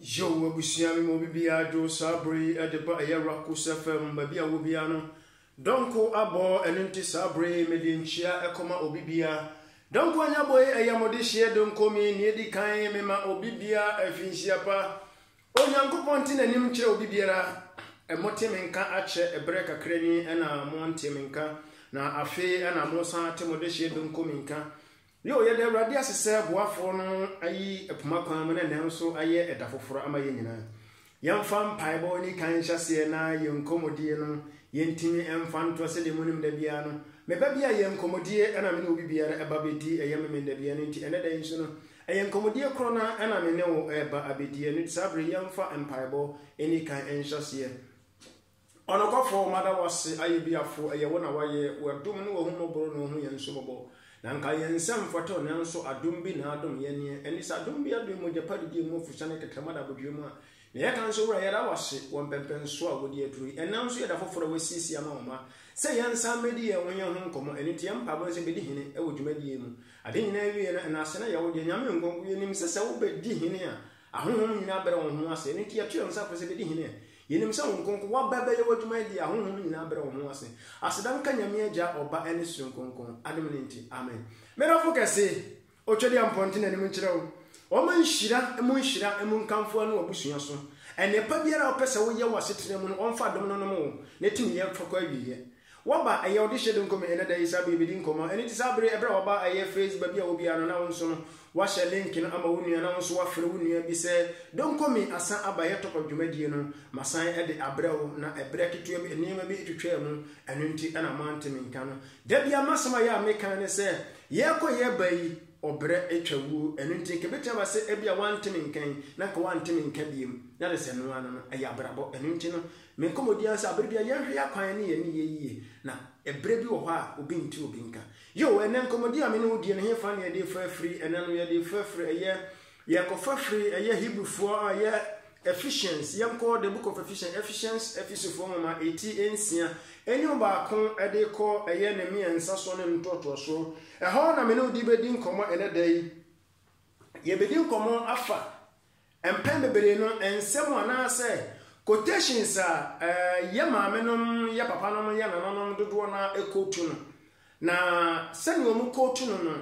Yo, abusua mi mu obi biara dwo saa bere yi de ba ɛyɛ Racos FM baabi a wɔ biara no. Dɔnko abɔ ɛno nti saa bere yi mede nkyia ɛkɔma obi biara. Dɔnko anyabɔ yi ɛyɛ mo de hyeɛ donko mi nea edi kan mema obi biara afinhyia pa. Onyankopɔn te n'anim kyerɛ obi biara. Ɛmo te me nka akyɛ ɛberɛ kakra ni ɛna mo nte me nka na afei ɛna mo san ate mo de hyeɛ donko mi nka. Nea ɔyɛ dɛ Awurade ase sɛ ɔboafoɔ no ayi poma kwan mu na ɛnnɛ nso ayɛ ɛda foforɔ ama yɛn nyinaa. Yɛmfa mpaebɔ nni kan nhyɛ aseɛ na yɛn nkɔmmɔdie no yɛntumi mfa ntoɔ sɛdeɛ monim da biara no me ba bi ayɛ nkɔmmɔdie ɛna me ne obi biara ɛba abɛdi ɛyɛ Memenda biara no nti ɛnɛ da yi nso no ɛyɛ nkɔmmɔdie korɔ no ara ɛna me ne wo ɛreba abɛdi ɛno nti saa berɛ yi yɛmfa mpaebɔ nni kan nhyɛ aseɛ. Ɔnokwafo, mada wo ase, ayɛ biafo, ɛyɛ wo na wayɛ, w'adom ne w'ahummɔboro na ohu yɛn nso mmɔbɔ, na nka yɛn nsa mfata o, nanso adom bi na adom yɛn, neɛ ɛne sɛ adom bi aben mogyapa didie mu afusane kɛkɛ ma da abodwoeɛ mu a, na yɛka nso, Wura, yɛda wo ase wɔ mpɛmpɛnsoɔ a wode aduru yi, ɛnnɛ nso yɛ da foforɔ a woasiesie ama wo mma sɛ yɛnsan mmɛdi yɛn ho yɛn ho nkɔmmɔ, ɛno nti yɛn mpaebɔ ne sɛ bɛdi hene wɔ dwumadie yi mu, ade nyinaa awieɛ no, ɛnaase na ɛyɛ wo deɛ, Nyame Nkronkron, yɛnim sɛ sɛ wobɛdi hene a, Ahonhom nyinaa brɛ wɔn ho ase, ɛno nti yɛto yɛn nsa frɛ sɛ bɛdi hene. Yɛnim sɛ Honhom Kronkron, woaba bɛyɛ w'adwuma yi deɛ ahonhom nyinaa brɛ wɔn ho ase. Aseda nka Nyame Agya, Ɔba ɛne Soro Nkronkron, adom no nti, amen. Me dɔfo kɛse, Otwadiampɔ nte n'anim nkyerɛ wo. Ɔma nhyira mu nhyira mu nkamfo ano w'abusua so. Ɛnnepa biara a wopɛ sɛ woyɛ w'asetena mu no, ɔmfa adom no nnom wo, na tumi yɛ mfa kɔ awieɛ. Waba ɛyɛ ɔde hyɛ donko me ɛnɛ da yi saa bere yɛbɛdi nkɔmmɔ ɛno nti saa bere ɛberɛ a waba ɛyɛ face baabi a wobiara no na wo nso no wahyɛ link no ama wo nua na wo nso wafrɛ wo nua bi sɛ donko me asan aba ɛyɛ top of dwumadie no masan ɛde abrɛ wo na ɛberɛ ketewa bi nneɛma bi ɛtwitwaa mu ɛno nti ɛna moante me nka no da bia masɛm a yɛ a meka ne sɛ yɛkɔ yɛba yi ɔbrɛ ɛtwa wuo ɛno nti nka ɛbɛtumi aba sɛ ɛbia wante me nka yi na nka wante me nka biem na de sɛ noa no no ɛyɛ abrabɔ ɛno nti no Me nkɔmmɔdi ara ne sɛ bere biara yɛnhwɛ akwan ne yɛn nneyɛe yiye, na bere bi wɔ hɔ a obi nte obi nka. Yiw, ɛnnɛ nkɔmmɔdi a me ne wo di no, hefa na yɛde refa afiri? Ɛnnɛ no, yɛde refa afiri, ɛyɛ, yɛrekɔfa afiri, ɛyɛ Hebrifo a ɛyɛ Ephesians, yɛnkɔ The Book of Ephesians, Ephesians, Efesofo Nwoma, eti nsia, enyi mu baako de rekɔ ɛyɛ ne mmiɛnsa so ne ne ntoatoaso. Ɛhɔ na me ne wo de bedi nkɔmmɔ ɛnnɛ da yi. Yebedi nkɔmmɔ afa Mpɛn bebree no, nsɛm anaasɛ quotations a yɛn maamenom, yɛn papanom, yɛn nananom dodoɔ no ara kootu no, na sɛdeɛ wɔkootu no no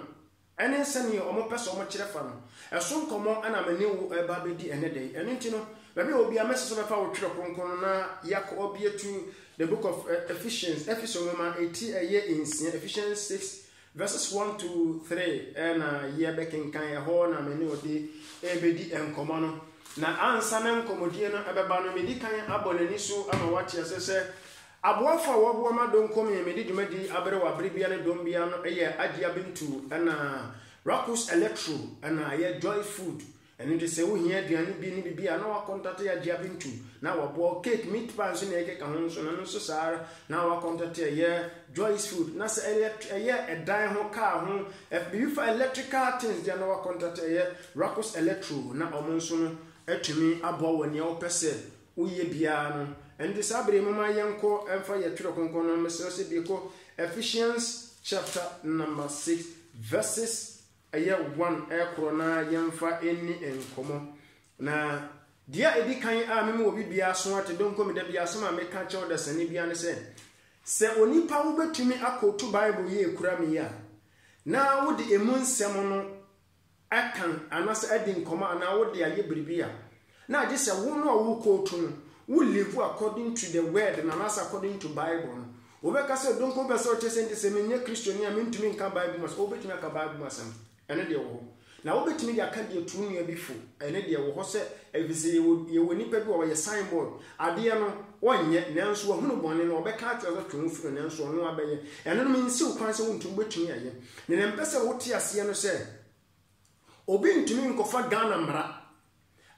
ne sɛdeɛ wɔpɛ sɛ wɔkyerɛ fa no, ɛso nkɔmmɔ na me ne wo reba abɛdi ɛnnɛ da yi. Ɛno nti no, baabi a wɔ biara, mɛsrɛ sɛ wobɛfa wo twerɛ kronkron no na yɛakɔ abɛtu The Book of Ephesians, Efeso Nwoma ti ɛyɛ nsia, Ephesians 6, Verses one, two, three na yɛbɛkenkan, ɛhɔ na me ne ɔde rebɛdi nkɔmmɔ no. Na ansa na nkɔmmɔdie no bɛba no, medi kan abɔ n'ani so ama wate aseɛ sɛ aboafo a wɔboa ma Donkom yɛ mede dwumadi aberewa bere biara ne dɔn biara no yɛ Agyia Bintu ɛna Rakus Electro ɛna ɛyɛ Joy Food Ɛno nti sɛ wohia aduane bi ne biribi a, na wɔakɔntate agye afe ntu, na wɔboa wo. Cake, meat pie nso na yɛkeka ho nso, na ɛno nso saa ara, na wɔakɔntate ɛyɛ Joyce Food. Na sɛ elɛt ɛyɛ ɛdan ho, kaa ho, ɛf biribi fa electrical things deɛ, na wɔakɔntate ɛyɛ Racos Electro, na wɔn nso no atumi aboa wɔ nea wopɛ sɛ woyɛ biara no. Ɛno nti saa bere yi momma yɛnkɔ mfa yɛn Twerɛ Kronkron no, mesrɛ sɛ bue kɔ Ephesians chapter number six verses Ɛyɛ one ɛkorɔ na yɛnfa ɛnni nkɔmɔ. Na deɛ a ɛdi kan a meme obi biara so ate donko me dabi asɛm a meka kyɛw dasani biara ne sɛ, sɛ onipa wo bɛtumi akootu bible yi ɛkura me yi a, na wo de ɛmu nsɛm no ɛkan anasɛ adi nkɔmɔ anaa wo de ayɛ biribi a, Na gye sɛ wo no a wo kootu no wo live according to the word no anaasɛ according to bible no. Wobɛka sɛ donko bɛ sɛ ɔkyerɛ sɛ nti sɛ menyɛ kristoni a mentumi nka bible mu asɛm. Wobɛtumi aka bible mu asɛm, ɛno deɛ ɛwɔ hɔ. Na wobɛtumi de aka deɛ tu nua bi fo, ɛno deɛ ɛwɔ hɔ sɛ ɛfiri sɛ yɛwɔ yɛwɔ nipa bi wɔ hɔ ɔyɛ sign board. Adeɛ no ɔnyɛ nanso wahunu bɔne no ɔbɛka akyerɛ sɛ twe wo firi ho nanso ɔno abɛyɛ. Ɛno no mensi wo kwan sɛ wontumi wobɛtumi ayɛ. Deɛ mepɛ sɛ wote aseɛ no sɛ obi ntumi nkɔfa Ghana mmara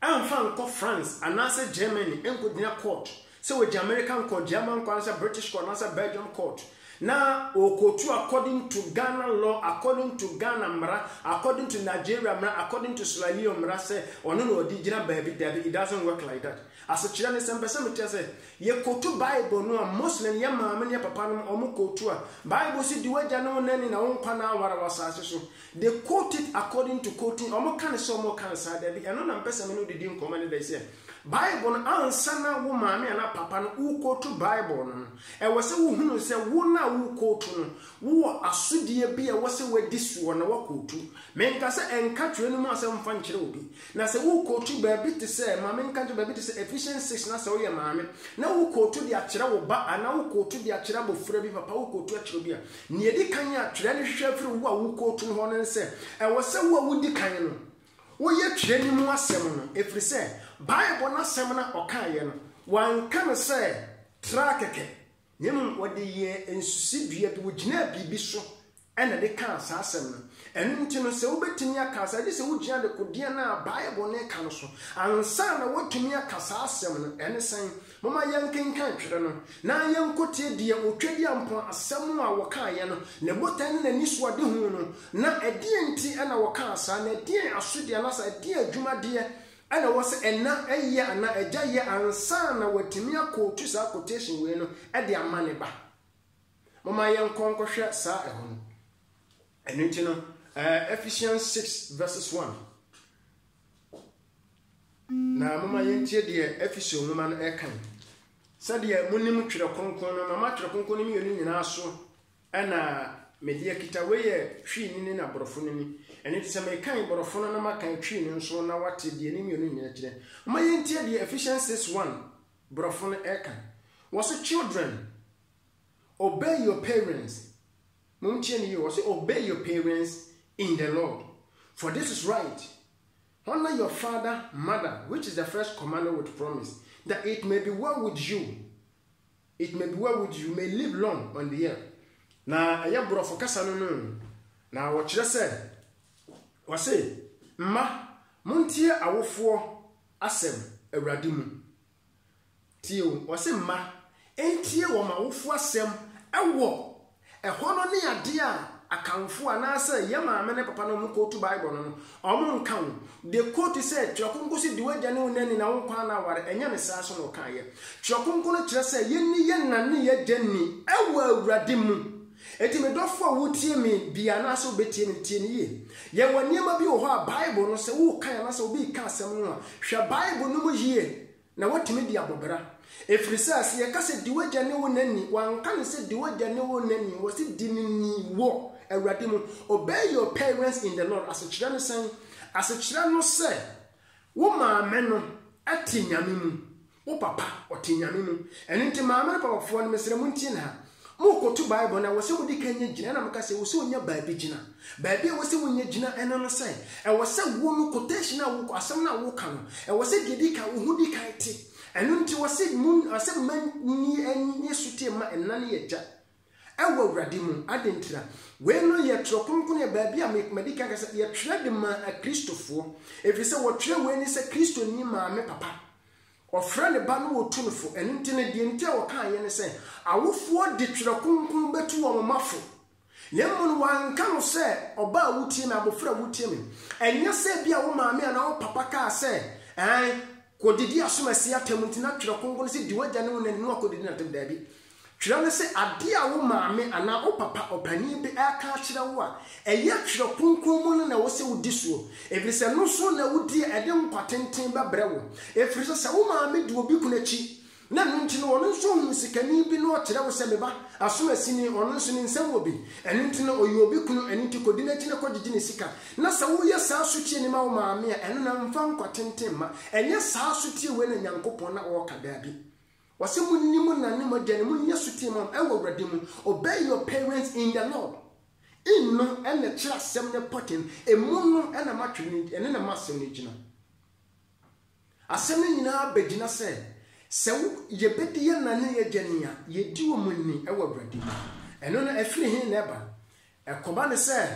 amfa ankɔ France anaasɛ Germany nkogyina court sɛ wagye American court, German court anaasɛ British court anaasɛ Belgium court na ɔrekɔtu according to Ghana law, according to Ghana mmara, according to Nigeria mmara, according to Sierra Leone mmara sɛ ɔno na ɔde gyina baabi, dabi, it doesn't work like that. Asekyerɛ ne sɛ mpɛ sɛ mekyerɛ sɛ yɛkɔtu Bible no a Muslim yɛ maame ne yɛ papa nom wɔkɔtu a, Bible se di w'agya ne wo nani na wo nkwa nna aware wɔ asase so. They quote it according to quoting, wɔn ka no sɛ wɔn ka no saa, dabi, ɛno na mpɛ sɛ me ne wo de di nkɔmmɔ ɛne da yi sɛ, Bible no ansa na wo maame anaa papa no wo quote Bible no no, ɛwɔ sɛ wo hunu sɛ wo no a wo quote no, wo wɔ asodeɛ bi a ɛwɔ sɛ wo adi soɔ na wo quote, me nka sɛ ɛnka twerɛ no mu asɛm mfa nkyerɛ obi, na sɛ wo quote baabi te sɛ, ma me nka nkyerɛ baabi te sɛ Ephesians 6 na sɛ wo yɛ maame na wo quote de akyerɛ wo ba anaa wo quote de akyerɛ abɔfra bi, papa wo quote akyerɛ obi a, Nea edi kan a Twerɛ no hwehwɛ firi wo a wokootu no hɔ no ne sɛ, ɛwɔ sɛ wo a wodi kan no, woyɛ Twerɛ no mu asɛm no, ɛfiri sɛ, Bible no asɛm no a ɔkaeɛ no, wanka no sɛ tra kɛkɛ, na mmom ɔde yɛɛ nsusuidua bi, ɔgyinaa biribi so na ɛde kaa saa asɛm no. Ɛno nti no, sɛ wobɛtumi aka saa, gye sɛ wogyina dekodeɛ no a Bible no ka no so. Ansa na woatumi aka saa asɛm no, ɛne sɛn? Momma yɛnkenkan Twere no, na yɛnkotie deɛ Otwadiampɔn asɛm a wɔkaeɛ no, ne botan ne n'anisoadehu no. Na ɛdeɛn nti na wɔkaa saa, na ɛdeɛn asodeɛ anaasɛ ɛdeɛn adwumadeɛ na ɛwɔ sɛ ɛna yɛ anaa agya yɛ ansa na watumi akɔtu saa quotation wei no de ama ne ba? Momma yɛnkɔ nkɔhwɛ saa ɛhɔ no. Ɛno nti no, Ephesians six verses one. Na momma yɛntie deɛ Efeso nwoma no ɛka yi. Sɛdeɛ monim Twerɛ Kronkron no, mama Twerɛ Kronkron no mmienu nyinaa so ɛna mede akita. Wei yɛ Twi no ni na Borɔfo no ni. Ɛno nti sɛ mekan Borɔfo no na makan Twi no nso na wate deɛ ne mmienu nyinaa kyerɛ. Momma yɛntie deɛ Ephesians 6 1 Borɔfo no ɛka. Wɔse, Children, obey your parents Montie no yie, ɔse obey your parents in the Lord, for this is right, honour your father, mother, which is the first commandment with promise, that it may be well with you, it may be well with you, you may live long on the earth. Na ɛyɛ borɔfo kasa no no, na wɔkyerɛ sɛ, ɔse, Mma, montie awofoɔ asɛm Awurade mu. Tie o, ɔse mma ntie wɔn awofo asɛm wɔ ɛhɔ no ne adeɛ a Akanfoɔ anaasɛ yɛn maame ne papa no wɔn kootu Bible no no, wɔn nka ho. They quote sɛ Twerɛ Kronkron se di w'agya ne wo na ni na wo nkwa nna aware, ɛnyɛ ne saa so na ɔkaeɛ. Twerɛ Kronkron no kyerɛ sɛ yɛnni yɛn na ne yɛn agya ni wɔ Awurade mu. Enti me dɔfo a wutie me bi anaasɛ wubetie me no, tie no yiye. Yɛwɔ nneɛma bi wɔ hɔ a Bible no, sɛ worekan anaasɛ obi reka asɛm no a, hwɛ Bible no mu yiye na woatumi de abɔ bra. Ɛfiri sɛ, sɛ yɛka sɛ, Di w'agya ne wo na ni, wɔanka no sɛ, Di w'agya ne wo na ni, wɔse, Di no ni wɔ Awurade mu. Obey your parents in the Lord asekyerɛ ne sɛn? Asekyerɛ no sɛ. Wo maame no te Nyame mu. Wo papa ɔte Nyame mu. Ɛno nti maame ne papafoɔ no, mesrɛ montie no ha. Morekoto Bible no, ɛwɔ sɛ wode ka nya gyina. Ɛna meka sɛ, ɛwɔ sɛ wonya baabi gyina. Baabi a ɛwɔ sɛ wonya gyina, ɛno ne sɛ, ɛwɔ sɛ wo no, quotation a wo, asɛm no a woreka no, ɛwɔ sɛ deɛ ɛdi kan, wo ho di kan te. Ɛno nti wɔse, mo, wɔse mma nni ani, nni sotie mma ɛna ne agya. Ɛwɔ Awurade mu. Adɛn ntira? Wei no yɛ twerɛ kronkron, yɛ baabi a me, madi kan ka sɛ, yɛtwerɛ de maa Akristofoɔ. Ɛfiri sɛ wɔtwerɛ wei ne sɛ Kristoni maame papa. Ɔfrɛ ne ba na ɔtu no fo. Ɛno nti no, deɛ nti a wɔkaeɛ ne sɛ, awofoɔ de twerɛ kronkron bɛtu wɔn mma fo. Na mmom no, wɔanka no sɛ, ɔba a wotie me, abɔfra a wotie me. Ɛnyɛ sɛ bi a wo maame anaa wo papa kaa sɛ, Ɛɛ, kɔdidi asomasie atɛm nti na twerɛ kronkron no sɛ, di w'agya ne wo na ne na kɔdidi no atɛm. Daabi. Twerɛ no sɛ adeɛ a wo maame anaa wo papa ɔpanin bi reka akyerɛ wo a ɛyɛ Twerɛ Kronkron mu no na ɛwɔ sɛ wodi soɔ, ɛfiri sɛ ɛno nso na wodi a ɛde nkwa tenten bɛbrɛ wo. Ɛfiri sɛ, sɛ wo maame di obi kunu akyi, na ɛno nti no ɔno nso ɔhunu sikani bi na ɔkyerɛ wo sɛ, me ba, asomasini, ɔno nso ne nsam wɔ bi, ɛno nti no ɔyɛ obi kunu, ɛno nti kɔdi n'akyi na kɔgyegye ne sika, na sɛ woyɛ saa sotie no ma wo maame a, ɛno na ɛmfa nkwa tenten mma. Ɛnyɛ saa sotie wei na Nyankopɔn na ɔreka, daabi. Wɔse monni mo na ne mogya no monni asotee mam ɛwɔ Awurade mu, obey your parents in the Lord, in no ɛna ɛkyerɛ asɛm no pɔten, emu no ɛna matwe no ɛne na masɛm no gyina. Asɛm no nyinaa bɛgyina sɛ, sɛ wo yɛbɛdi yɛn na ne yɛgya ni a, yɛdi wɔn ni ɛwɔ Awurade mu. Ɛno no ɛfiri he na ɛba? Ɛkɔba ne sɛ,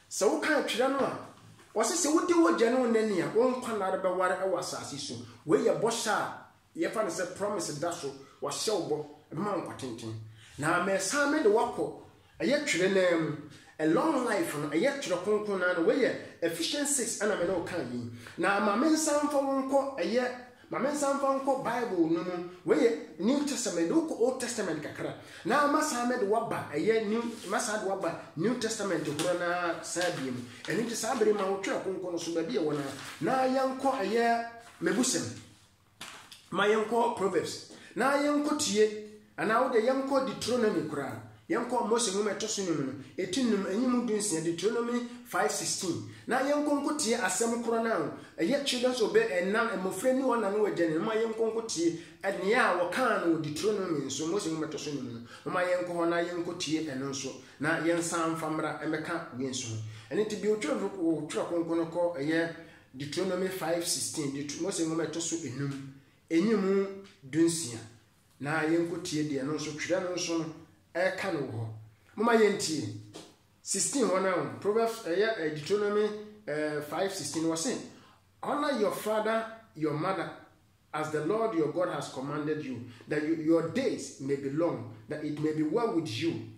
sɛ wokan twerɛ no a, wɔse sɛ wodi wogya ne wo na ni a, wo nkwa nna rebɛware ɛwɔ asase so. Wei yɛ bɔhyɛ a Yɛfa no sɛ promise da so, wahyɛ wo bɔ, ɛbɛma wo nkwa tenten. Na mɛsan mede wo akɔ, ɛyɛ twerɛ no ara mu. A long life no, ɛyɛ twerɛ kronkron no ara no, wei yɛ Ephesians six ɛna me ne wo kaeɛ yi. Na ma me nsan mfa wo nkɔ, ɛyɛ, ma me nsan mfa wo nkɔ Bible no mu, wei yɛ New Testament, mede wo kɔ Old Testament kakra, na mɛsan mede wo aba, ɛyɛ New, mɛsan de wo aba New Testament horoɔ no ara saa bie mu. Ɛno nti saa berɛ yi ma wo twerɛ kronkron no so, baabi a ɛwɔ no ara, na yɛnkɔ ɛyɛ Mɛbusɛm. ma yɛnkɔ Proverbs na yɛnkɔtie, anaa wo deɛ yɛnkɔ Deuteronomy koraa, yɛnkɔ Mose nwoma ɛtɔ so nnum no, ɛti nnum, ɛnyi mu du nsia, Deuteronomy 5:16, na yɛnkɔ nkɔtie asɛm korɔ no a ɛyɛ Children's Obey ɛna, mmɔfra ni wɔn na ne wɔn agya ni, momma yɛnkɔ nkɔtie nea a wɔkaa no wɔ Deuteronomy nso, Mose nwoma ɛtɔ so nnum no, momma yɛnkɔ hɔ na yɛnkɔtie ɛno nso, na yɛnsan mfa mmra mmɛka wei nso ho. Ɛno nti, bi wotwerɛ wotwerɛ kronkron no kɔ ɛyɛ Deuteronomy five sixteen, Deut. Mose Nwoma a ɛtɔ so enum, enyi mu dunsia, na yɛnkotie deɛ ɛno nso, twerɛ no nso no, ɛreka no wɔ hɔ. Momma yɛntie. Sixteen hɔ no ara, Proverbs ɛyɛ eh, Deuteronomy eh, five sixteen, wɔse, Honor your father, your mother, as the Lord your God has commanded you, that you, your days may be long, that it may be well with you.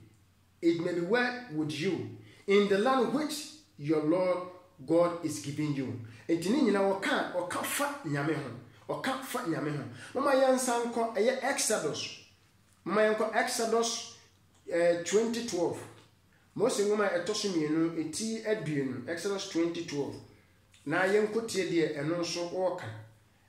It may be well with you in the land which your Lord God is giving you. Nti ne nyinaa ɔka ɔka fa Nyame ho. Ɔka fa Nyame ho. Momma yɛnsan nkɔ ɛyɛ Exodus. Momma yɛnkɔ Exodus eh, 2012. Mose nwoma a ɛtɔ so mmienu eti aduonu Exodus 2012. Na yɛnkɔtie deɛ ɛno nso ɔɔka.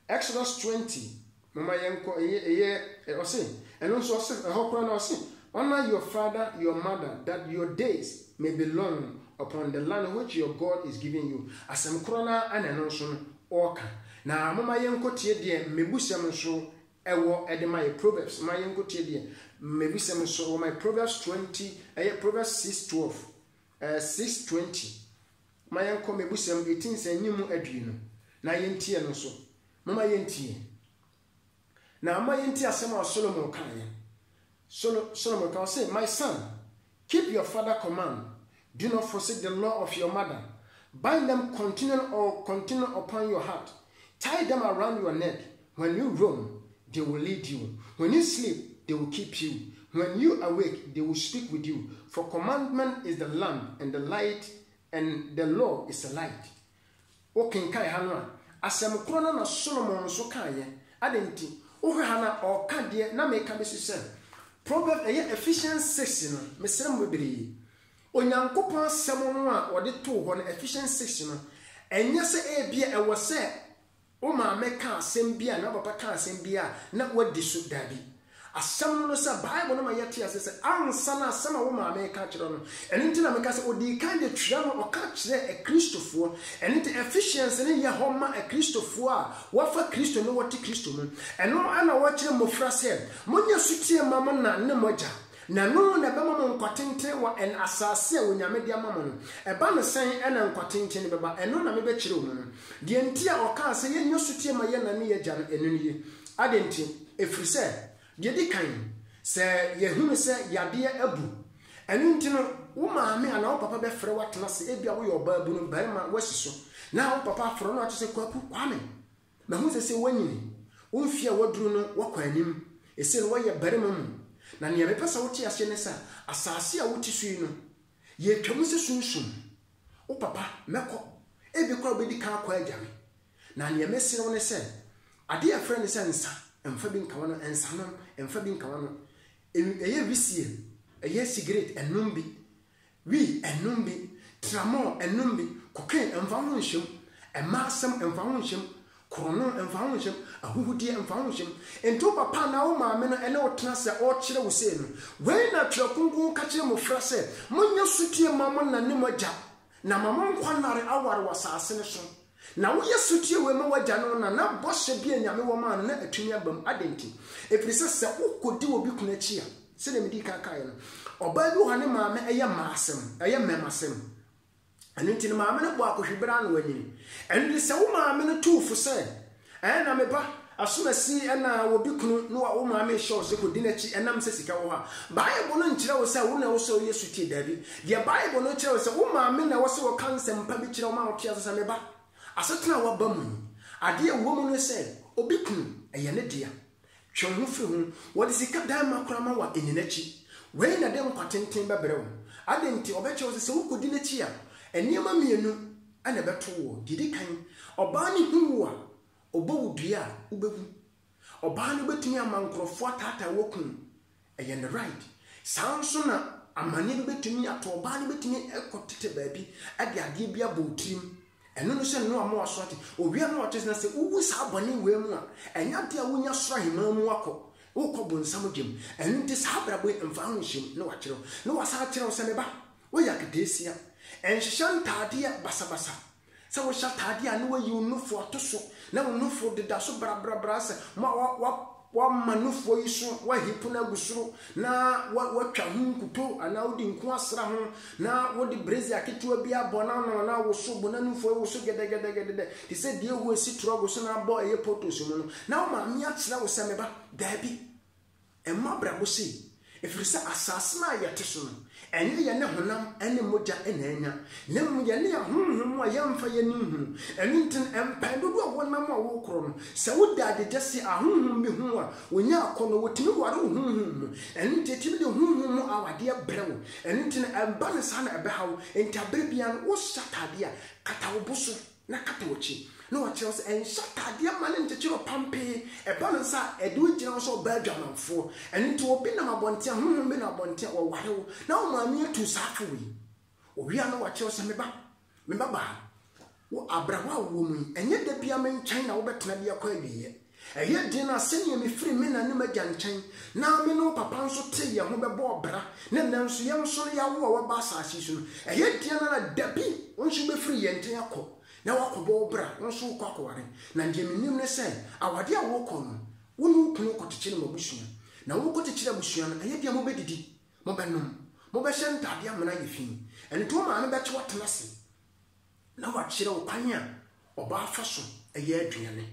Exodus twenty, moma yɛn kɔ, ɛyɛ, ɛyɛ, ɛ, ɔse, ɛno nso ɔse, ɛhɔ koraa no ɔse, Honour your father, your mother, that your days may be long upon the land which your God is giving you. Asɛm korɔ no ara na ɛno nso no ɔɔka. Na moma yɛn kɔ tie deɛ mmɛbusɛm nso ɛwɔ ɛde ma yɛ, Proverbs, moma yɛn kɔ tie deɛ mmɛbusɛm nso ɛwɔ ma yɛ, Proverbs twenty, ɛyɛ, Proverbs six twelve, ɛɛ, six twenty, Momma yɛnkɔ m'abusɛm ɛti nsɛnnim mu adue no, na yɛntie no nso. Momma yɛntie. Na momma yɛntie asɛm a Solomon kaeɛ. Solo, Solomon ka, ɔse, My son, keep your father command, do not forsake the law of your mother, bind them continually or continually upon your heart, tie them around your neck, When you roam, they will lead you, when you sleep, they will keep you, when you awake, they will speak with you, for commandment is the lamp and the light and the law is a light. Wo kenkan ha no a, asɛm korɔ no na Solomon nso kaeɛ. Adɛn nti? Wo hwɛ ha no a, ɔreka deɛ na me reka bɛsi sɛ, Proverbs, ɛyɛ Ephesians six no, mesrɛ mo bebree, Onyankopɔn asɛm no a wɔde too hɔ no, Ephesians six no, ɛnyɛ sɛ ebia ɛwɔ sɛ Wo maame ka asɛm bi a anaa wo papa ka asɛm bi a na woadi so? Dabi. Asɛm no ne sɛ, Bible no ma yɛte ase sɛ ansa na asɛm a wo maame reka akyerɛ wo no, ɛno nti na meka sɛ ɔdii kan de twerɛ ma ɔka kyerɛɛ Akristofoɔ. Ɛno nti, Ephesians no yɛ hɔ ma Akristofoɔ a wɔafa Kristo na wɔte Kristo mu. Ɛno na wɔkyerɛ mmɔfra sɛ, Monyɛ sotie mma mo na ne mo agya, na ɛno na ɛbɛma mo nkwa tenten wɔ asase a Onyame de ama mo no. Ɛba no sɛn na nkwa tenten no bɛba? Ɛno na mebɛkyerɛ wo mu no. Deɛ nti a ɔkaa sɛ yɛnni ɔsotie ma yɛn na ne yɛn agya no, ɛno nie. Adɛn nti? Ɛfiri sɛ, deɛ ɛdi kan, sɛ yɛhunu sɛ yadeɛ abu, ɛno nti no, wo maame anaa wo papa bɛfrɛ wo atena ase, ebia woyɛ ɔbaabunu, barima, woasi so, na wo papa afrɛ wo na wato sɛ, Kwaku, Kwame, mahunu sɛ sɛ woanyini, wo mfeɛ a woaduru no, woakɔ anim, ɛsei no woayɛ barima mu, na nea mepɛ sɛ wote aseɛ ne sɛ, asase a wote so yi no, Yɛretwa mu sɛ Sunsum, wo papa, mɛkɔ, ebia koraa wobɛdi kan akɔ agya me. Na deɛ mesrɛ wo ne sɛ, adeɛ a yɛfrɛ no sɛ nsa, mfa bi nka w'ano, nsanom, mfa bi nka w'ano. Ɛn, ɛyɛ wisie, ɛyɛ sigaret, nnom bi. Wii, nnom bi. Tramɔl, nnom bi. Cocaine, mfa wo ho nhyɛ mu. Mmaa asɛm, mfa wo ho nhyɛ mu. Korɔn no mfa ho nhyem, ahuhudeɛ mfa ho nhyem. Enti wo papa anaa wo maame no ne wo tena sɛ ɔrekyerɛ wo sei no, Wei na Twerɛ Kronkron ka kyerɛ mmɔfra sɛ, Monyɛ sotie mma mo na ne mo agya, na ama mo nkwa nnare aware wɔ asase no so. Na woyɛ sotie wei ma w'agya ne wo na, na bɔhyɛ bi a Nyame wɔ maa no no atumi aba mu. Adɛn nti? Ɛfiri sɛ, sɛ wokɔdi obi kunu akyi a, sɛdeɛ medii kan kaeɛ no, ɔbaa bi wɔ hɔ a ne maame yɛ mmaasɛm, ɛyɛ mmɛmasɛm. Ɛno nti ne maame no bɔɔ Akɔhwi bere ano anyin. Ɛno nti sɛ wo maame no tu wo fo sɛ, Ɛɛ na me ba, asomasi na wɔ bi kunu na wo maame rehyɛ wo sɛ kɔdi n'akyi ɛnam sɛ sika wɔ hɔ a, Bible no nkyerɛ wo sɛ wo na ɛwɔ sɛ woyɛ sotie. Dabi. Deɛ Bible no kyerɛ wo sɛ wo maame na ɛwɔ sɛ ɔka nsɛmpa bi kyerɛ wo ma wote ase sɛ, Me ba, asetena a woaba mu yi, adeɛ a ɛwɔ mu ne sɛ, obi kunu, ɛyɛ ne dea. Twe wo ho fi ho. Wɔde sika dan ma koraa ma wɔanni n'akyi. Wei na ɛde nkwa tenten bɛbrɛ wo. Adɛn nti? Ɔbɛkyerɛ wo sɛ, sɛ wokɔdi n'akyi a, nneɛma mmienu na ɛbɛto woɔ. Deɛ ɛdi kan, ɔbaa no hu wo a, ɔbɔ wo dua a, wobɛwu. Ɔbaa no bɛtumi ama nkurɔfoɔ ataataa wo akum wo. Ɛyɛ ne right. Saa ara nso na amanneɛ bi bɛtumi ato ɔbaa no bɛtumi kɔ tete baabi de adeɛ bi abɔ wo tirim. Ɛno ne sɛ Noa ma waso ate. Owia Noa ɔte sɛ sɛ wowu saa bɔne wei mu a, ɛnyɛ adeɛ a wonya soro aheman mu akɔ. Wokɔ bonsam gyem. Ɛno nti saa abrabɔ yi mfa ho nhyɛ mu. Ne wakyerɛ wo. Ne wasan akyerɛ wo sɛ, me ba, woyɛ aketeesia. Nhyehyɛ ntaadeɛ basabasa. Sɛ wohyɛ ataadeɛ a na woayi wo nufoɔ ato so na wo nufoɔ deda so brabrabra sɛ ma wa wa wama nufoɔ yi so wahipo no agu soro na wa watwa ho nkuto anaa wode nku asra ho na wode brazier ketewa bi abɔ na no na woso bo na nufoɔ yi woso gɛdɛgɛdɛgɛdɛ te sɛ deɛ ɛhu asi torɔgo so na abɔ ɛyɛ potos mu no na wo maame akyerɛ wo sɛ meba daabi Ɛmmɔ abrabɔ sei, ɛfiri sɛ asase no a yɛte so no, ɛnyɛ yɛne honam ne mogya na anya, na mmom yɛne ahonhom a yɛmfa yɛn ani nhunu. Ɛno nti no, mpɛn dodoɔ a wonam a wokorɔ no, sɛ woda ade gya si ahonhom bi ho a, wonya akɔnnɔ, wɔtumi ware wo honhom mu. Ɛno nti ɛtumi de honhom mu awadeɛ brɛ wo. Ɛno nti no, ɛmba no saa na ɛbɛha wo. Enti aberɛ biara no, wohyɛ ataadeɛ a, kata wo bo so. na kata w'akyi, na ɔkyerɛw sɛ, Nhyɛ ataadeɛ mma no nkyekyere wo pampee, ɛba no saa a, ɛde wo gyina hɔ sɛ ɔbaa adwamanfoɔ. Ɛno nti obi nam abɔnten a, honhom bi nam abɔnten a, wɔware wo, na wo maame atuu saa afoɔ yi. Ɔwie a na wakyerɛw sɛ, Me ba, me babaa, wo abrabɔ a wowɔ mu yi, ɛnyɛ da biara me nkyɛn na wobɛtena de akɔ awieɛ. Ɛyɛ den a sɛnea mifiri me na ne m'agya nkyɛn na me ne wo papa nso tee yɛn ho bɛbɔɔ bra na nnɛ nso yɛn nso no yɛawo a woaba asase yi so no, ɛyɛ den araa dabi wo nso wobɛfiri yɛn nkyɛn akɔ na woakɔbɔ wo bra, wo nso wokɔ akɔware. Na deɛ menim ne sɛ awadeɛ a worekɔ no, wo ne wo kunu rekɔkyekyere mo abusua. Na worekɔkyekyere abusua no, ɛyɛ den a mobɛdidi, mobɛnom, mobɛhyɛ ntadeɛ amena ayɛ fi. Ɛno nti wo maame bɛkye wo atena ase. Na wakyerɛ wo kwan a ɔbaa fa so yɛ aduane.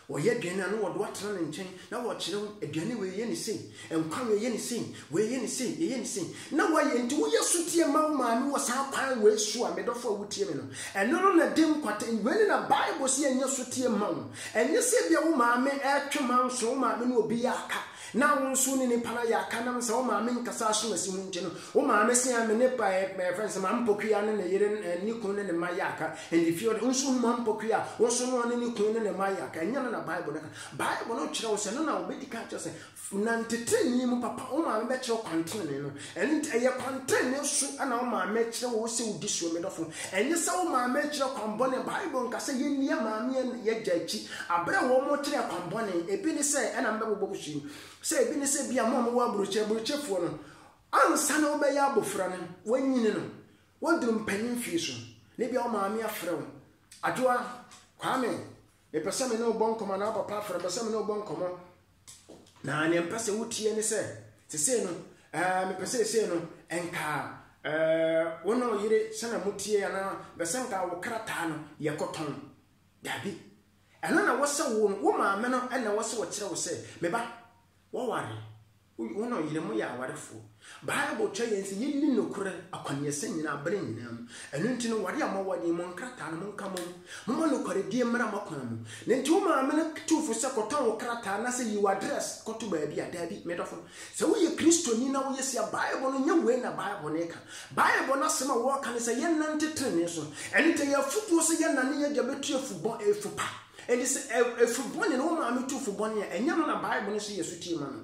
Ɔyɛ aduane a na wɔde wo atena ne nkyɛn na wakyerɛ wo aduane wei yɛ ne sei, nkwa wei yɛ ne sei, wei yɛ ne sei, ɛyɛ ne sei. Na wayɛ nti woyɛ sotie ma wo maame wɔ saa kwan wei so a, me dɔfo a wotie me no, ɛno no na ɛde nkwata, wei ne na Bible se yɛnyɛ sotie ma wo. Ɛnyɛ sɛ ebia wo maame retwe manso, wo maame ne obi yɛ aka, Na wo nso wo ne nipa no ayɛ akanam sɛ wo maame nkasa aso asi mu nti no wo maame se a me ne pa ɛ ɛ fɛn sɛ Mampokuya ne ne yere ɛ ne kun ne ne mma yɛ aka and if you wo nso hu Mampokuya a wo nso ne ɔne ne kun ne ne mma ayɛ aka ɛnyɛ no na Bible no ka Bible no kyerɛ wo sɛ ɛno na wobɛdi kan kyerɛ sɛ nante trenee mu papa wo maame bɛkyerɛ wo kwan trenee no Ɛno nti, ɛyɛ kwantrenee so na wo maame rekyerɛ wo sɛ wodi soɔ, me dɔfo. Ɛnyɛ sɛ wo maame rekyerɛ kwan bɔne. Bible nka sɛ yɛnni yɛn maame ne yɛn agya akyi. Bere a wɔkyerɛɛ kwan bɔne, ebi ne sɛ, ɛna mebɛbobɔ mo so yi, sɛ ebi ne sɛ bia mo a mowɔ aburokyire, aburokyirefoɔ no, ansa na wobɛyɛ abofra no, wɔanyini no, woaduru mpanyin mfeɛ so, na ebia wo maame afrɛ wo, Adwoa, Kwame, mepɛ sɛ me ne wo bɔ nkɔmmɔ, anaa wo papa afrɛ wo, mepɛ sɛ me ne wo bɔ nkɔmmɔ. Na nea mpɛ sɛ wotie ne sɛ, sesei no, ɛɛ mepɛ sɛ sesei no, nka ɛɛ wo na ɔyere sɛnea motie anaa bɛsɛ nka wo krataa no yɛkɔtɔn. Dabi. Ɛno na wɔsɛ wo no, wo maame no na wɔsɛ wɔkyerɛ wo sɛ, me ba, wɔware, wo na ɔyere moyɛ awarefoɔ. Bible kyerɛ yɛn sɛ yenni nokorɛ akwaneɛsɛ nyinaa berɛ nyinaa mu. Ɛno nti no, ware a moaware yi, mo nkrataa no, monka mmɔ mu. Momma nokwaredie mmra mo akwan mu. Na enti wo maame no tu wo fo sɛ kɔtɔn wo krataa anaasɛ yi w'address kɔto baabi a? Daabi, me dɔfo. Sɛ woyɛ Kristoni na woyɛ sei a, Bible no, nyɛ wei na Bible no reka. Bible no asɛm a wɔreka ne sɛ yɛnnante tenenee so. Ɛno nti ɛyɛ afotuo sɛ yɛnnane yɛn agya bɛtu afu bɔ, afu pa. Enti sɛ afu bɔne no wo maame tu fo bɔne a, ɛnyɛ no na Bible no se yɛ sotie ma no.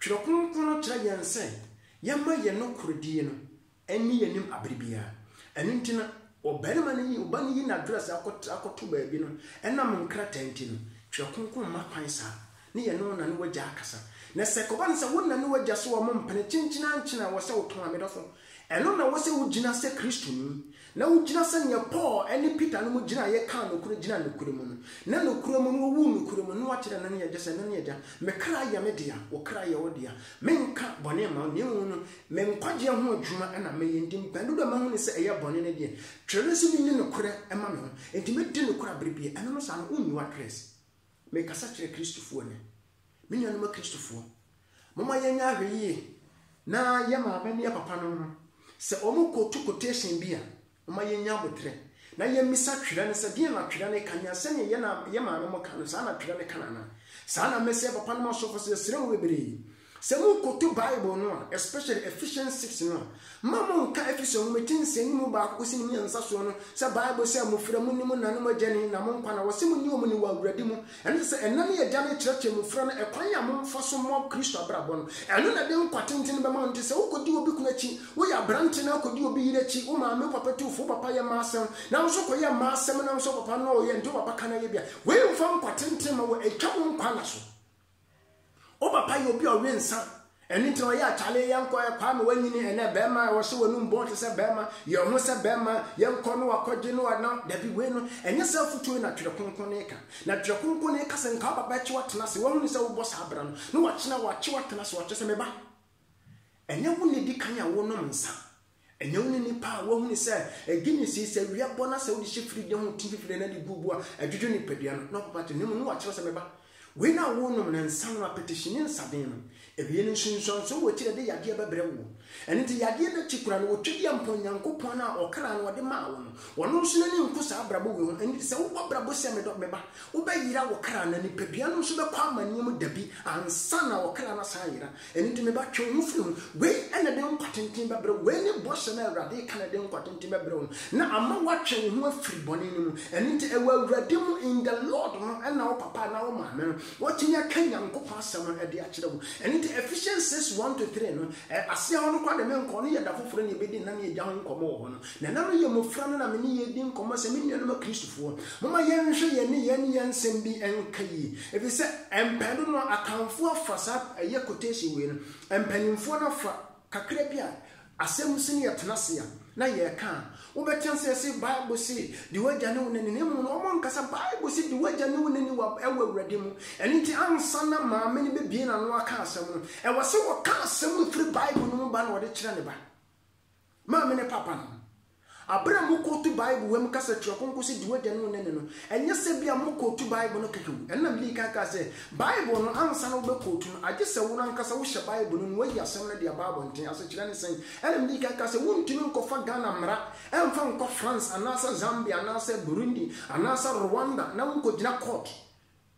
Twerɛ Kronkron no kyerɛ yɛn sɛ yɛmma yɛn nokorɛdie no nni yɛn anim aberɛ biara. Ɛno nti na ɔbarima no yi, ɔba no yi n'address akɔtra akɔto baabi no, ɛnam nkrataa nti no, Twerɛ Kronkron mma kwan saa, ne yɛne wo na ne w'agya akasa. Na sɛ ɛkɔba no sɛ wo na ne w'agya so a wɔmpene, kyenkyen ara nkyen a, wɔ sɛ wotɔn a, medɔfo, Ɛno na ɛwɔ sɛ wogyina sɛ Kristoni, na wogyina sɛnea Paul ne Peter nom gyinaeɛ kaa nokorɛ gyinaa nokorɛ mu no, na nokorɛ mu no wɔwuu nokorɛ mu, na wɔakyerɛ ɛno ne agya sɛ ɛno ne agya, me kra yɛ me dea, wo kra yɛ wo dea, menka bɔne mma wo, na mmom no me nkwagyeɛ ho adwuma na mɛyɛ, enti mpɛn dodoɔ a mahunu sɛ ɛyɛ bɔne no deɛ, twerɛ no sɛ menni nokorɛ mma me ho, enti mɛdi nokorɛ aberɛ biara, ɛno no saa no, wonnyi w'address. Merekasa kyerɛ Kristofoɔ nnɛ. Me nuanom Akristofoɔ, momma yɛnyɛ ahwɛyie na yɛn maame ne yɛn papanom no, sɛ wɔkɔtu quotation bi a, momma yɛnnya aboterɛ na yɛmmisa Twerɛ no sɛ, deɛn na Twerɛ no ka? Nea sɛdeɛ yɛn maanom ka no, saa na Twerɛ no ka no anaa? Saa na mɛsrɛ papanom asɔfoɔ sɛ, yɛsrɛ mo bebree, Sɛ morekoto Bible no a, especially Ephesians six no a, mma monnka Efeso Nwoma ti nsia no mu baako kosi ne mmiɛnsa soɔ no, sɛ Bible sɛ, Mofra mu nni mo nna ne mo agya ni, na mo nkwa na wɔse monni wɔn ni wɔ Awurade mu. Ɛno kyerɛ sɛ ɛna ne agya no kyerɛkyerɛ mofra no ɛkwan a momfa so mmɔ Kristo abrabɔ no. Ɛno na ɛde nkwa tenten bɛma wo. Nti sɛ wokɔdi obi kunu akyi, woyɛ aberante na wokɔdi obi yere akyi, wo maame, wo papa tu wo fo, wo papa yɛ mmaa asɛm na wo nso kɔyɛ mmaa asɛm na wo nso wo papa no na ɔyɛ nti wo papa ka no ayɛ bi a, wei mfa nkwa tenten mma wo, ɛtwa wo nkwa nna so. Wo papa yɛ obi a ɔwe nsa, ɛno nti na ɔyɛ atale yɛnkɔ ɛ Kwame wanyini ɛnɛ bɛɛma a ɔhyɛ w'anum bɔn te sɛ bɛɛma, yɛ wo ho sɛ bɛɛma, yɛnkɔ na wakɔgye na wa na dabi wei no ɛnyɛ saa afutuo yi na Twerɛ Kronkron no reka. Na Twerɛ Kronkron no reka sɛ nka wo papa akyi watena ase, wahunu sɛ wobɔ saa bra no, na wakyena wakye watena ase, wakyerɛ sɛ me ba, ɛnyɛ wo na ɛdi kan a wonom nsa, Ɛnyɛ wo ne nnipa a woahunu sɛ edi no si sɛ wia bɔ na sɛ wode hyɛ firi de ho te fifire na de gu bo a ɛdwodwo nipadua no na ɔbɛba te no mu na wakyerɛ sɛ meba. Wei na wonom na nsa no apetishi ne nsaden no. Ewie no nsunsuansoɔ wɔ akyiri a ɛde yadeɛ bɛbrɛ woɔ. Ɛno nti yadeɛ no akyi koraa no wɔtwa deɛ mpɔn Nyankopɔn no a ɔkra no ɔde maa wo no. Ɔno nso n'ani nku saa abrabɔ wei ho ɛno nti sɛ wobɔ abrabɔ sɛ medɔ meba wobɛyera wo kra na nipadua no nso bɛkɔ amaneɛ mu dabi ansa na ɔkra no asan ayera Ɛno nti, me ba, twe wo ho firi ho. Wei na ɛde nkwa tenten bɛbrɛ wo. Wei ne bɔhyɛ no a Awurade reka na ɛde nkwa tenten bɛbrɛ wo no, na ama woatwe wo ho afiri bɔne no mu. Ɛno nti, ɛwɔ Awurade mu, in the Lord, no na wo papa anaa wo maame no watumi aka Nyankopɔn asɛm no de akyerɛ wo. Ɛno nti, Ephesians six, one to three no, ɛ, aseɛ hɔ no koraa deɛ menkɔ hɔ, no yɛ da foforɔ na yɛbɛdi nna ne agya ho nkɔmmɔ wɔ hɔ no. Na na meyɛ mmofra no na me ne yɛn di nkɔmmɔ sɛ, Me nuanom Akristofoɔ, momma yɛnhwɛ yɛn nneyɛɛ ne yɛn nsɛm bi nka yie. Efisɛ mpɛn dodoɔ no, Akanfoɔ afa saa ɛyɛ quotation wei no, mpanimfoɔ no afa kakra bi a asɛm si ne yɛtena ase a, na yɛreka a, wobɛte ase yɛse, Bible se, Di w'agya ne wo na ni. Na mmom no, wɔankasa Bible se, Di w'agya ne wo na ni wɔ Awurade mu. Ɛno nti, ansa na maame no bɛbue n'ano aka asɛm no, ɛwɔ sɛ ɔka asɛm no firi Bible no mu ba na ɔde kyerɛ ne ba. Maame ne papa no, bere a mokootu Bible wɔ mu kasa tiawa kronkron sɛ di w'agya ne wo na no no, ɛnyɛ sɛ ebia mokootu Bible no kɛkɛ o. Ɛno na Lee kae kaa sɛ, Bible no, ansa na wobɛkootu no, agye sɛ wo no ankasa wohyɛ Bible no mu, woayi asɛm no de aba abɔnten. Asekyerɛ ne sɛn? Ɛnna Lee kae kaa sɛ, Wontumi nkɔfa Ghana mmara mfa nkɔ France anaasɛ Zambia anaasɛ Burundi anaasɛ Rwanda na wonkɔgyina kɔɔto.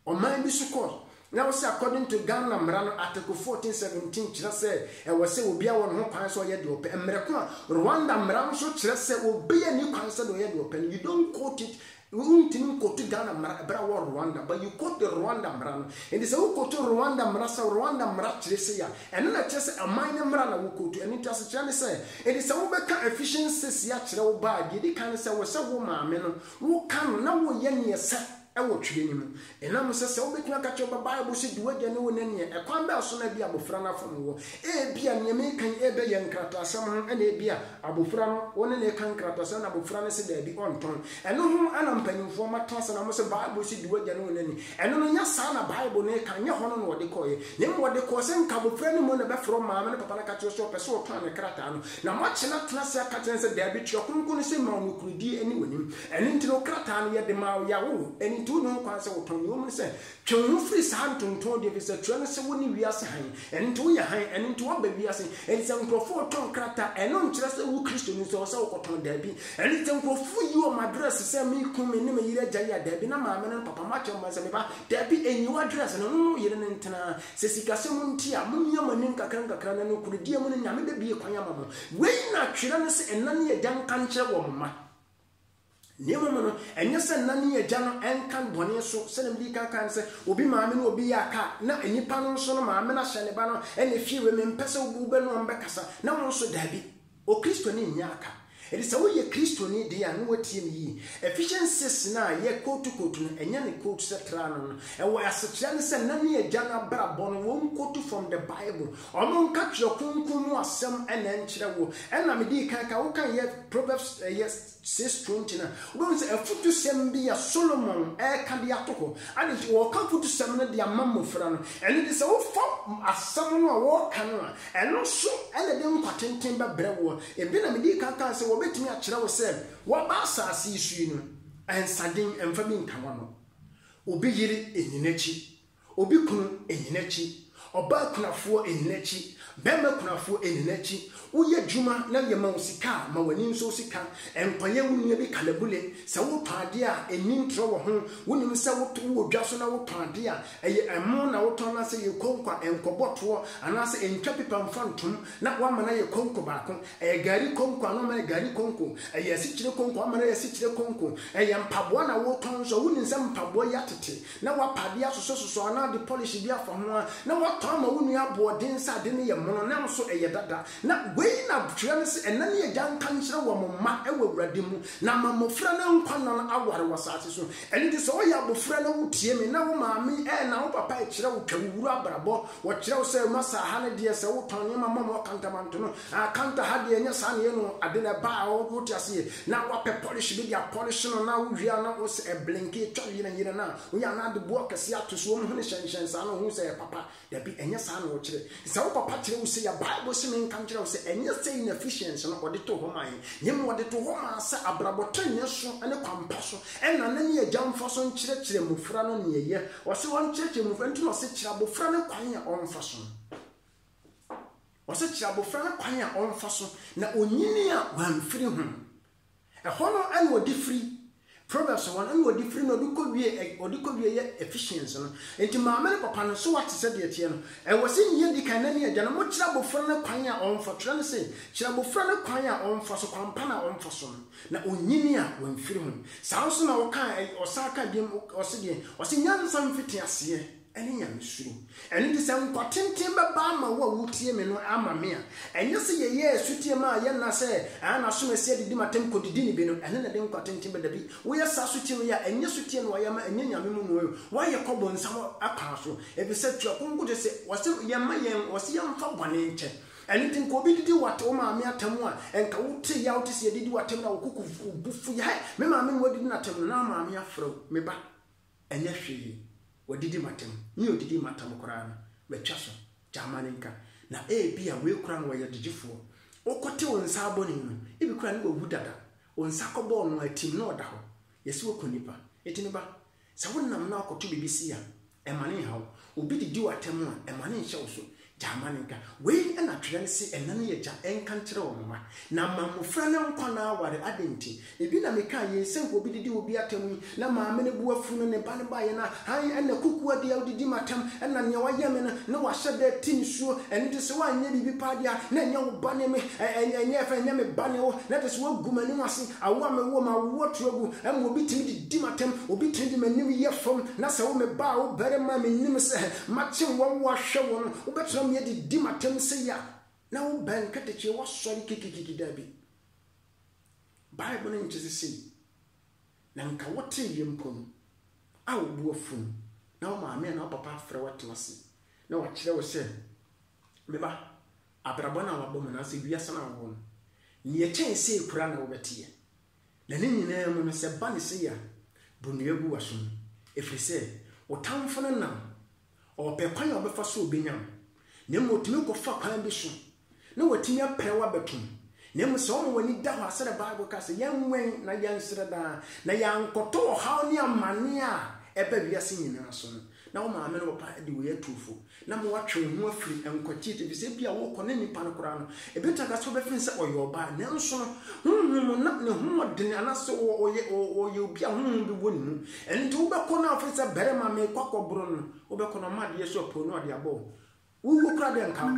Ɔman bi so kɔ. Na wo sɛ according to Ghana mmara no article fourteen seventeen kyerɛ sɛ ɛwɔ sɛ obiara wɔ ne ho kwan sɛ ɔyɛ deɛ ɔpɛ mmerɛ ko a Rwanda mmara no nso kyerɛ sɛ obiara nni kwan sɛ deɛ ɔyɛ deɛ ɔpɛ no you don't quote it wontumi nkotu Ghana mmara ɛberɛ a wɔ Rwanda but you quote the Rwanda mmara no enti sɛ wo kotu Rwanda mmara sɛ Rwanda mmara kyerɛ sei a ɛno na ɛkyerɛ sɛ aman no mmara na wo kotu ɛno nti asekyerɛ ne sɛ enti sɛ wo bɛka efficient sesi akyerɛ wo ba a deɛ ɛdi kan ne sɛ wɔ sɛ wo maame no wo ka no na wo yɛ neɛ sɛ wɔ Twerɛ no mu. Ɛnam sɛ sɛ wobɛtumi aka kyerɛ wo ba Bible sɛ di w'agya ne wo na ni ɛ, ɛkwan bɛn so na ebia abofra no afom woɔ? Ebia nea mereka yi rebɛyɛ nkrataasɛm ho na ebia abofra no, wo ne no reka nkrataasɛm na abofra no se daabi, ɔntɔn. Ɛno ho na mpanimfoɔ mmata ase na wɔse Bible se di w'agya ne wo na ni. Ɛno no, nyɛ saa na Bible no reka, nyɛ hɔ no na ɔde kɔeɛ. Na mmom ɔde kɔɔ sɛ nka abofra no mmom na ɛbɛfrɛ wo maame ne papa no aka kyerɛ wo sɛ ɔpɛ sɛ ɔtɔn ne krataa no, na moakyena tena ase aka kyerɛ no sɛ daabi, Twerɛ Kronkron no se ma wo nokorɛdie ne w'anim. Ɛno nti no, krataa no yɛde maa wo, yɛawo wo, ɛno nti wonni ho kwan sɛ wotɔn. Nea ewom ne sɛ, twe wo ho firi saa ntontoodi, efisɛ twerɛ no se, Wone wiase hann. Ɛno nti woyɛ hann, ɛno nti woaba wiase. Enti sɛ nkurɔfo retɔn krataa, ɛno nkyerɛ sɛ wo Kristoni nso ɛwɔ sɛ wokɔtɔn. Dabi. Ɛno nti sɛ nkurɔfo yi wɔn address sɛ me kunu, me ne me yere agya yi a, dabi, na maame no ne papa, moakyerɛ mo ba sɛ, me ba, dabi, nyi w'address no, wo ne wo yere no ntena. Sɛ sikasɛm nti a, momia mo ani nkakrankakra na nokorɛdie mu no, Nyame bɛbue kwan ama mo. Wei na twerɛ no se, Ɛna ne agya nka nkyerɛ wɔn mma. Na mmom no, ɛnyɛ sɛ na ne agya no nka no bɔne so. Sɛnea mede kan kae no, sɛ obi maame ne obi yɛ a, ka a na nnipa no nso no maame no ahyɛ ne ba no na efie wei mempɛ sɛ wo bɛ ne wɔn bɛkasa, na wɔn nso dabi. Okristoni nyɛ a ka. Enti sɛ woyɛ Kristoni de a, na woatie me yiye. Ephesienses no a yɛ kootu kootu no, ɛnyɛ ne kootu sɛ tra no no. Ɛwɔ asekyerɛ ne sɛ na ne agya no abrabɔ no wɔn kootu from the Bible. Ɔno nka twerɛ kronkron mu asɛm na ɛnkyerɛ wo ɛna me dii kan ka wo kan yɛ proverbs ɛyɛ six twenty no a wobɛhu sɛ afutusɛm bi a Solomon ɛka de ato hɔ ade nti ɔka afutusɛm no de ama mmɔfra no ɛno nti sɛ wofa asɛm no a wɔka no a ɛno nso na ɛde nkwa tenten bɛbrɛ woɔ ebi na me dii kan kaa sɛ wɔbɛtumi akyerɛ wo sɛ waba asase yi so yi no ɛnsaden ɛmfa bi nka wano obi yere nyi n'akyi Obi kunu nni n'akyi, ɔbaa kunafoɔ nni n'akyi, barima kunafoɔ nni n'akyi, woyɛ adwuma na yɛma wo sika a, ma w'ani nsɔ sika, nkɔyɛ wo nua bi kalabule, sɛ wotɔn adeɛ a, nni ntorɔ wɔ ho, wonim sɛ wowɔ dwa so na wotɔn adeɛ a, ɛyɛ ɛmo na wotɔn anaasɛ ɛyɛ konko a, nkɔbɔ toɔ anaasɛ ntwa pipa mfa ntom na woama no ayɛ konko baako, ɛyɛ gari konko a na woama no ayɛ gari konko, ɛyɛ asikyire konko a woama no ayɛ asikyire konko, ɛyɛ mpaboa na wotɔn nso a, wonim sɛ mpaboa yi atete, na woapa ade asosɔsosɔ anaa de pɔlehye bi afa ho a, na woatɔ ama wo nua aboɔden sɛ ade no yɛ mono, nanso ɛyɛ dada. Na wei na twerɛ no se, Ɛna ne agya nka nkyerɛ wɔn mma wɔ Awurade mu, na ama mmofra no nkwa nna no aware wɔ asase so. Ɛno nti sɛ woyɛ abofra na wotie me, na wo maame anaa wo papa kyerɛ wo twa wo wura abrabɔ, wɔkyerɛ wo sɛ, Masa, ha ne deɛ, sɛ wotɔn nneɛma ma wɔn akantamanto no, Ah Kanta ha deɛ ɛnyɛ saa na ɛyɛ no o, ade na ɛba a wote aseɛ na woapɛ polish bi de apolish no na wowie a na wosɛ ɛblinke ɛtwa yerɛn yerɛn a woyɛ a na wode boɔ kɛseɛ ato so wɔn hwene hyɛn hyɛn saa na wohu sɛ ɛyɛ papa, dabi ɛnyɛ saa na wɔkyerɛ. Sɛ wo papa kyerɛ wo sei a Bible se menka nkyerɛ wo sɛ ɛnyɛ sei na Ephesians no ɔde too hɔ maa yɛn, na mmom ɔde too hɔ maa sɛ abrabɔ trenee so ne kwan pa so ɛna ne ne agya mfa so nkyerɛkyerɛ mmofra no nea ɛyɛ, ɔse ɔnkyerɛkyerɛ mmofra nti na ɔse kyerɛ abofra no kwan a ɔmfa so. Ɔsɛ kyerɛ abofra no kwan a ɔmfa so na onyini a wamfiri ho. Ɛhɔ no na ɔde firi. Proverbs hɔ no, na ɔde firi na ɔde kɔ wie ɛ, ɔde kɔ wie yɛ Ephesians no. Enti maame ne papa no, so wɔate sɛdeɛ ɛteɛ no? Ɛwɔ sɛ nea edi kan, ɛna ne agya no, mokyerɛ abofra no kwan a ɔmfa, twerɛ no se, kyerɛ abofra no kwan a ɔmfa so, kwan pa no a ɔmfa so no, na onyini a wamfiri ho. Saa ara nso na ɔkaa, ɔsan kaa bio, ɔse deɛn? Ɔse, Nyansa mfiti aseɛ. ne nyamesuro. Ɛno nti, sɛ nkwa tenten bɛba ama wo a wotie me no ama me a, ɛnyɛ sɛ yɛyɛ asutie ma yɛn nna sɛ, ah, n'asomasie adidi m'atɛm kodidi ne bi no, ɛno na ɛde nkwa tenten ba. Dabi, woyɛ saa asutie wei a, ɛnyɛ asutie na woayɛ ama, ɛnyɛ Nyame mu na woayɛ o, woayɛ kɔ bonsam akwan so, efisɛ Twerɛ Kronkron kyerɛ sɛ, wɔse yɛmma yɛn, wɔse yɛmfa bɔne nkyɛ. Ɛno nti, nka obi didi wo wo maame atɛm a, nka wote yaw te sɛ yɛdidi w'atɛm no a, wo koko bu fuw, yɛ, hai, me maame na wadidi n'atɛm no, na maame afrɛ wo, me ba, ɛnyɛ hwee, wɔadidi m'atam. Me a ɔdidii m'atam koraa no, matwa so, gyama no nka. Na ebia wei koraa na wɔyɛ gyegyefoɔ. Wokɔte wo nsa abɔne no, ebi koraa na wawu dada. Wo nsa kɔbɔɔ no a, atim na ɔda hɔ. Yɛse woaku nnipa. Enti me ba, sɛ wonam na wokɔto biribi sei a, mma no nnha wo. Obi didi w'atam a, mma no nnhyɛ wo so. Gyaa ma no nka. Wei na twerɛ no se ɛna no yɛ gya nka nkyerɛ wo mma, na ma mmofra no nkwa na aware. Adɛn nti? Ebi na mekaa yei sɛ nka obi didi obi atɛm yi, na maame no bo afu no, ne ba no baeɛ no a, hann, ɛna kukuo deɛ wodidi m'atɛm, ɛna nea wayɛ me no, na wahyɛ da ati nisuo, ɛno nti sɛ woanyɛ biribi paa deɛ a, na ɛnyɛ wo ba ne me, ɛ, ɛ, ɛnyɛ, ɛfɛn, ɛnyɛ me ba ne wo, na kyerɛ sɛ woagu m'anim ase, awo a mewoo m'awoɔ atu agu, ɛma obi tumi didi m'atɛm, obi tumi de m'anim yɛ fam, na sɛ wo me ba a, wo barima a, mennim sɛ Mate wɔn wo ahwɛ wɔn wobɛtra me adi di matam sei a na wo bɛn nketekyee woasɔre kikikiki dabi bible no nkyese sei na nka wotee yɛ mpo no a wo bo afu no na wo maame anaa wo papa afrɛ wo atena ase na wakyerɛ wo sɛ me ba abrabɔ no a wabɔ mu anaasɛ wiase no a wowɔ no nea ɛkyɛn sei koraa na wobɛteɛ Na ne nyinaa mu no, sɛ ba ne sɛ ya, bu nnua gu w'asom, ɛfiri sɛ wo tamfo no nam, ɔrepɛ kwan a ɔbɛfa so ɔbɛnya wo, na mmom ɔtumi kɔfa kwan bi so na watumi apira wo abɛto mu. Na mmom sɛ woma w'ani da hɔ a, sɛdeɛ Bible ka sɛ, yɛnwɛn na yɛnsrɛ daa, na yɛankɔtɔ ɔhaw ne amane a ɛba wiase nyinaa so no, na wo maame ne wo papa de wei atu wo fo, na ma woatwe wo ho afiri nkwati akyi, efisɛ ebia worekɔ ne nipa no koraa no, ebetumi aka sɛ wobɛfiri no sɛ ɔyɛ ɔbaa, nanso no, honhom mu na ne ho wɔ den, anaasɛ ɔyɛ ɔyɛ obi a honhom bi wɔ ne mu. Ɛno nti wobɛkɔ no a wofiri sɛ barima merekɔ akɔboro no no, wobɛkɔ na ɔma adeɛ so apue na ɔde abɔ wo. Wowuo koraa deɛ nka wo.